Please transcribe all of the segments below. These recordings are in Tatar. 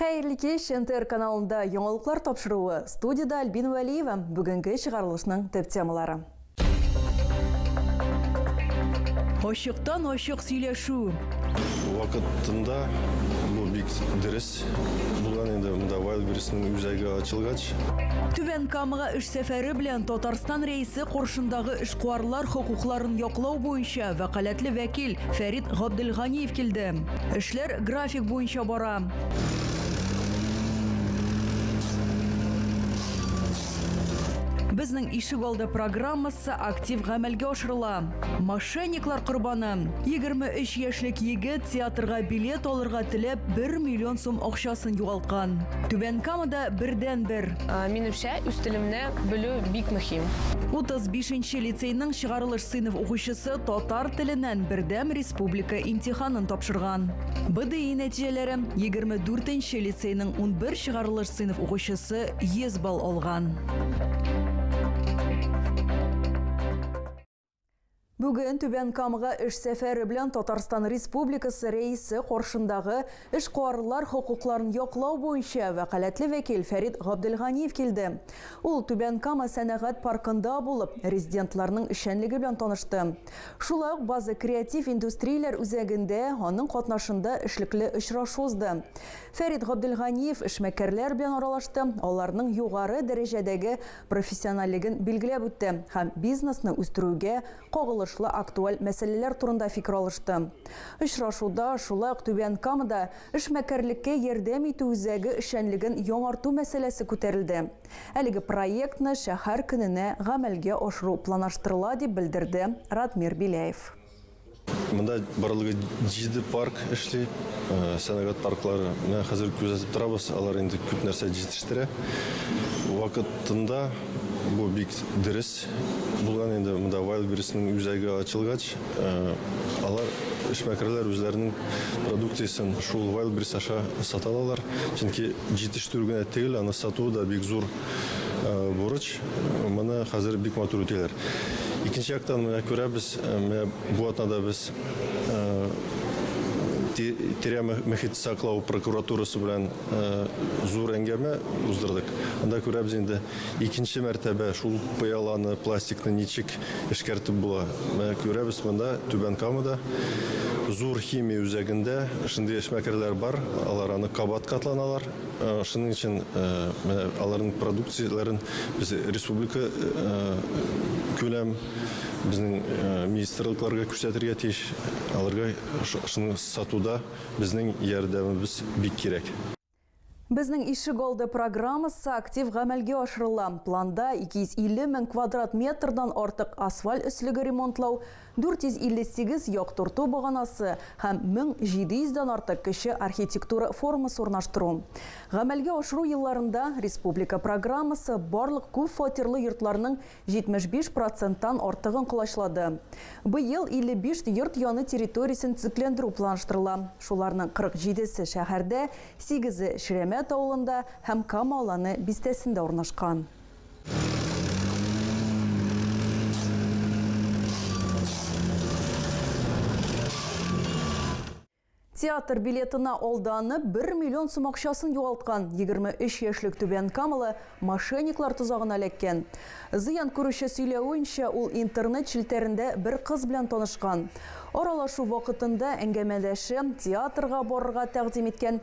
Хәерле кич, НТР каналында яңалыклар тапшыруы. Студида Альбин Вәлиева. Бүгенге чыгарылышның төп темалары. Ачыктан ачык сөйләшү. Вакытында бу бик дөрес булган инде монда Wildberries-ның үзәге ачылгач. Түбән Камага эш сәфәре белән Татарстан Рәисе каршындагы эшкуарлар хокукларын яклау буенча вәкаләтле вәкил Фәрит Габделганиев килде. Эшләр график буенча бара. Безнең ишек алды программасы актив гамәлгә ашырыла. Мошенниклар корбаны. 23 яшьлек егет театрга билет алырга теләп 1 миллион сум акчасын югалткан. Түбән Камада бердән-бер. Минемчә, үз телемне белү бик мөһим. 35 нче лицейның чыгарылыш сыйныф укучысы татар теленнән бердәм республика имтиханын тапшырган. БДИ нәтиҗәләре, 24 нче лицейның 11 чыгарылыш сыйныф укучысы 100 балл алган. Бүген Түбән Камага эш сәфәре белән Татарстан Республикасы Рәисе каршындагы эшкуарлар хокукларын яклау буенча вәкаләтле вәкил Фәрит Габделганиев килде. Ул Түбән Кама сәнәгать паркында булып, резидентларның эшчәнлеге белән танышты. Шулай ук База креатив индустрияләр үзәгендә аның катнашында эшлекле очрашу узды. Фәрит Габделганиев эшмәкәрләр белән аралашты, аларның югары дәрәҗәдәге профессиональлеген билгеләп үтте һәм бизнесны үстерүгә кагылышлы актуаль мәсьәләләр турында фикер алышты. Очрашуда шулай ук Түбән Камада эшмәкәрлеккә ярдәм итү үзәге эшчәнлеген яңарту мәсьәләсе күтәрелде. Әлеге проектны шәһәр көненә гамәлгә ашыру планаштырыла, дип белдерде Радмир Беляев. Монда барлыгы җиде парк эшли. Сәнәгать парклары менә хәзер күзәтеп торабыз, алар инде күп нәрсә җитештерә. Вакытында бу бик дөрес булган инде. Монда Wildberries-ның үзәге ачылгач, алар эшмәкәрләр үзләренең продукциясен шул Wildberries аша сата алалар. Чөнки җитештерү генә түгел, аны сатуы да бик зур Бурыч, моны хәзер бик матур үтиләр. Икенче яктан, менә күрәбез, менә бу атнада без тирә мөхит саклау прокуратурасы белән зур әңгәмә уздырдык. Анда күрәбез инде, икенче мәртәбә шул пыяланы, пластикны ничек эшкәртеп була. Менә күрәбез, монда Түбән Камада зур химия үзәгендә шундый эшмәкәрләр бар, алар аны кабат катланалар. Шуның өчен менә аларның продукцияләрен без республика күләм безнең министрлыкларга күрсәтергә тиеш. Аларга шуны сатуда безнең ярдәмебез бик кирәк. Безнең ишегалды программасы актив гамәлгә ашырыла. Планда 250 мең квадрат метрдан артык асфаль өслеге ремонтлау, 458 яктырту баганасы һәм 1700 дән артык кече архитектура формасы урнаштыру. Гамәлгә ашыру елларында республика программасы барлык күп фатирлы йортларның 75 проценттан артыгын колачлады. Быел 55 йорт яны территориясен төзекләндерү планлаштырыла, шуларның 47 се шәһәрдә, сигезе Ширәмәт авылында һәм Кама Аланы бистәсендә урнашкан. Театр билетына алданып, 1 миллион сум акчасын югалткан 23 яшьлек түбән камалы мошенниклар тозагына эләккән. Зыян күрүче сөйләвенчә, ул интернет челтәрендә бер кыз белән танышкан. Аралашу вакытында әңгәмәдәше театрга барырга тәкъдим иткән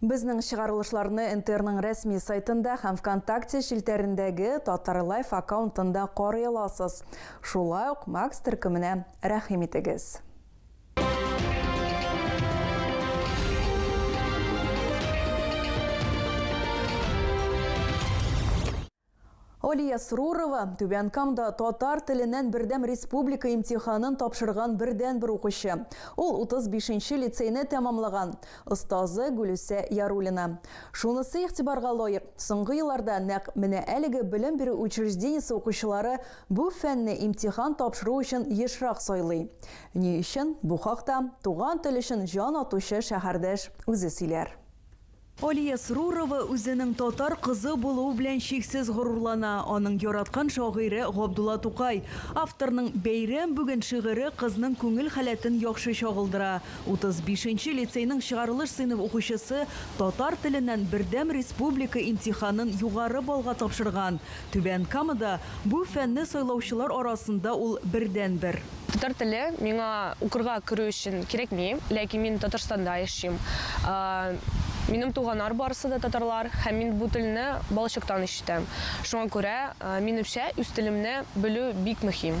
Безнең чыгарылышларны НТРның рәсми сайтында һәм Вконтакте челтәрендәге Татарлайф аккаунтында карый аласыз. Шулай ук Макс төркеменә рәхим итегез. Алия Срурова, Түбән Камда татар теленнән бердәм республика имтиханын тапшырган бердәнбер укучы. Ул утыз бишенче лицейны тәмамлаган. Остазы, Гөлүсә Яруллина. Шунысы игътибарга лаек, соңгы елларда нәкъ менә әлеге белем бирү учреждениесе укучылары бу фәнне имтихан тапшыру өчен ешрак сайлый. Ни өчен? Бу хакта туган тел өчен җан атучы шәһәрдәш үзе сөйләр. Алия Срурова үзенең татар кызы булуы белән чиксез горурлана. Аның яраткан шагыйре Габдулла Тукай. Авторның Бәйрәм бүген шигыре кызның күңел халәтен яхшы чагылдыра. 35 нче лицейның чыгарылыш сыйныф укучысы татар теленнән бердәм республика имтиханын югары баллга тапшырган. Түбән Камада бу фәнне сайлаучылар арасында ул бердәнбер. Татар теле миңа укырга керү өчен кирәкми, ләкин мин Татарстанда яшим. Минем туганнар барысы да татарлар һәм мин бу телне балачактан ишетәм. Шуңа күрә, минемчә, үз телемне белү бик мөһим.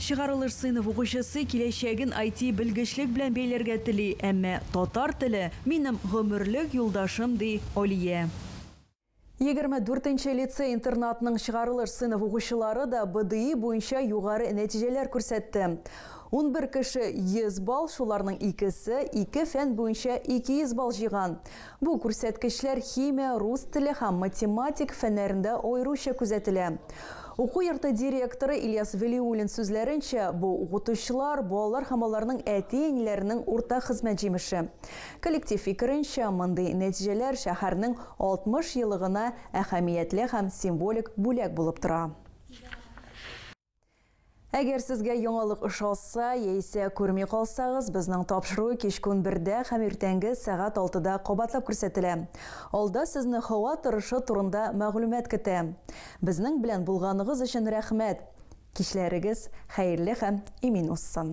Чыгарылыш сыйныф укучысы киләчәген IT-белгечлек белән бәйләргә тели, әмма татар теле, минем гомерлек юлдашым, ди Алия. Егерме дүртенче лицей-интернатның чыгарылыш сыйныф укучылары да БДИ буенча югары нәтиҗәләр күрсәтте. Унбер кеше, 100 балл, шуларның икесе, ике фән буенча 200 балл җыйган. Бу күрсәткечләр химия, рус теле һәм математик фәннәрендә аеруча күзәтелә. Уку йорты директоры Ильяс Вәлиуллин сүзләренчә, бу, укытучылар, балалар һәм аларның әти-әниләренең уртак хезмәт җимеше. Коллектив фикеренчә, мондый нәтиҗәләр шәһәрнең 60 елыгына әһәмиятле һәм символик бүләк булып тора. Әгәр сезгә яңалык ошалса, яисә күрми калсагыз, безнең тапшыру кичкүн бердә һәм иртәнге сәгать алтыда кабатлап күрсәтелә. Алда сезне һава торышы турында мәгълүмат көтә. Безнең белән булганыгыз өчен рәхмәт! Кичләрегез хәерле һәм имин узсын!